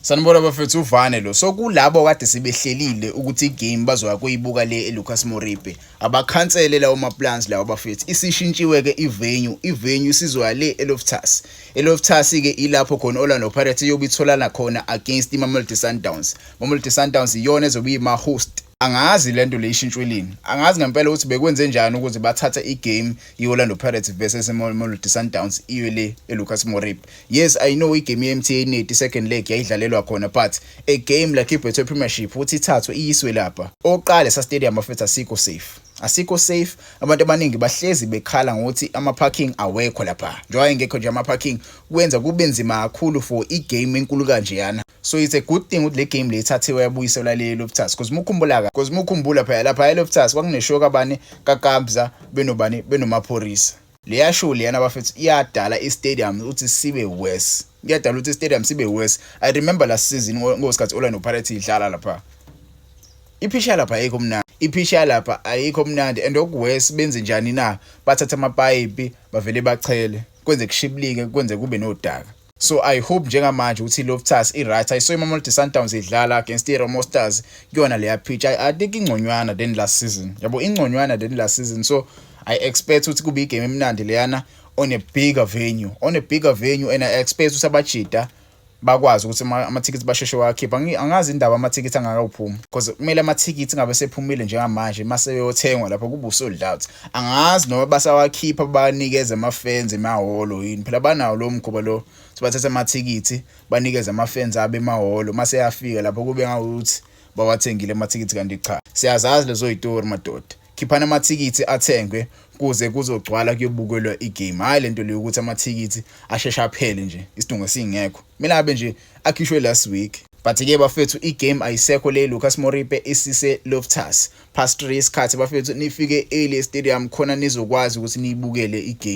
Sanibona bafethu uvane lo. So kulabo kade sibehlelile ukuthi igame bazoya kuyibuka le eLucas Moripe. Abakhansele lawo maplans lawo bafethu. Isishintshiwe ke ivenue. Ivenue sizoya le eLoftus. ELoftus ke ilapho khona Orlando Pirates iyobe itholana khona against iMamelodi Sundowns. Mamelodi Sundowns iyona ezobe ima host Angazi lento le ishintshwe lini. Angazi ngempela ukuthi bekwenze njani ukuze bathathe igame ye-Orlando Pirates versus Mamelodi Sundowns iwe le eLucas Morib. Yes, I know igame ye-MTN Net second leg yayidlalelwa khona but a game like iBetway Premiership uthi ithathwe iyiswe lapha. Oqale sa stadium bafethu asikho safe. Asikho safe. Abantu abaningi bahlezi bekhala ngokuthi ama parking awekho lapha. Njengoba engekho nje ama parking kwenza kube nzima kakhulu for igame enkulu kanjeyana. so it's a good thing ukuthi le game le ithathiwe yabuyiselwa le Loftus because mukhumbula ka because mukhumbula phela lapha eLoftus kwakuneshow kabani kaKabza benobani benomaphorisa leya show leyana bafethu iyadala istadium ukuthi sibe worse iyadala ukuthi istadium sibe worse i remember last season ngosikhathi Orlando Pirates idlala lapha iphisha lapha ayikho mnandi iphisha lapha ayikho mnandi and okuworse benze njani na bathatha amapayipi bavele bachele kwenze kushiblike kwenze kube nodaka so i hope njengamanje ukuthi iloftus i-right i saw imamelodi sundowns idlala against i-romo stars kuyona leya pitch i think ingconywana than last season yabo ingconywana than last season so i expect ukuthi kube igame emnandi leyana on a bigger venue on a bigger venue and i expect ukuthi abajida bakwazi ukuthi amathikithi basheshe wakhipha angazi indaba amathikithi angakawuphumi because kumele amathikithi ngabe sephumile njengamanje maseyothengwa lapho kubuso doubt angazi noma basawakhipha banikeze ama-fans emahholo yini phela banawo lo mkhuba lo sibathatha amathikithi banikeze ama-fans abo emahholo uma seyafika lapho kube ngawukuthi bawathengile amathikithi kanti cha siyazazi lezo yitori madoda khiphani amathikithi athengwe kuze kuzogcwala kuyobukelwa igame hhayi le nto leyo ukuthi amathikithi asheshe aphele nje isidingo singekho kumele abe nje akhishwe last week but-ke bafethu igame ayisekho le lucas moripe isise loftus past 3 isikhathi bafethu nifike early e stadium khona nizokwazi ukuthi niyibukele i game.